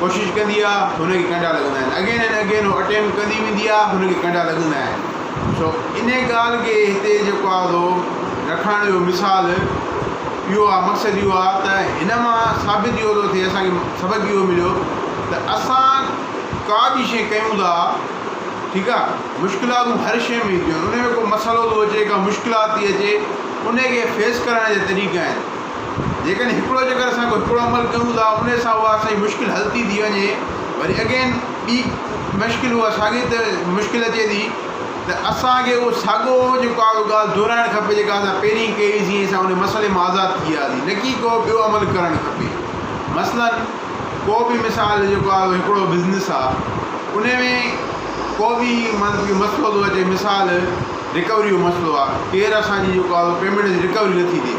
ڪوشش ڪندي آ هن کي ڪنڊا لڳندا آهن اگين اينڊ اگين هو اٽيمپ ڪندي ويندي آ هن کي ڪنڊا لڳندا آهن سو ان ڳالهه کي هتي جيڪو آ سو رکڻ جو مثال اهو آ مقصد اهو آ ته هن مان ثابت اهو ٿو ٿئي اسان کي سبق اهو مليو ته اسان ڪا به شيء ڪيون ٿا ٺيڪ آ مشڪلاتون هر شيء ۾ اينديون آهن ان ۾ ڪو مسئلو ٿو اچي ڪا مشڪلات ٿي اچي ان کي فيس ڪرڻ جا طريقا آهن جيڪڏهن هڪڙو جيڪر اسان ڪو هڪڙو عمل ڪيون ٿا ان سان اها اسان جي مشڪل حل ٿي ٿي وڃي وري اگين ٻي مشڪل اها ساڳي ته مشڪل اچي ٿي ته اسان کي اهو ساڳو جيڪو آ اهو ڳالهه دهرائڻ کپي جيڪا اسان پهرين ڪئي جيئن اسان ان مسئلي مان آزاد ٿي وياسي نه ڪي ڪو ٻيو عمل ڪرڻ کپي مثلا ڪو به مثال جيڪو آ هڪڙو بزنس آ ان ۾ ڪو به مطلب ڪي مسئلو ٿو اچي مثال رڪوري جو مسئلو آ ڪير اسان جي جيڪو آ پيمنٽ جي رڪوري نٿي ڏي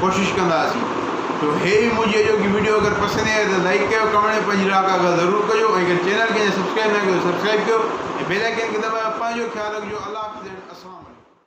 ڪوشش ڪنداسين تو هي هئي منهنجي اڄوڪي وڊيو اگر پسند آئي ته لائيڪ ڪيو ڪمينٽ ۾ پنهنجي راء ڪا ڳالهه ضرور ڪجو ۽ اگر چينل کي اڃا سبسڪرائيب ناهي ڪيو ته سبسڪرائيب ڪيو ۽ بيل آئيڪن کي دٻايو پنهنجو خيال رکجو الله حافظ اينڊ السلام عليڪم.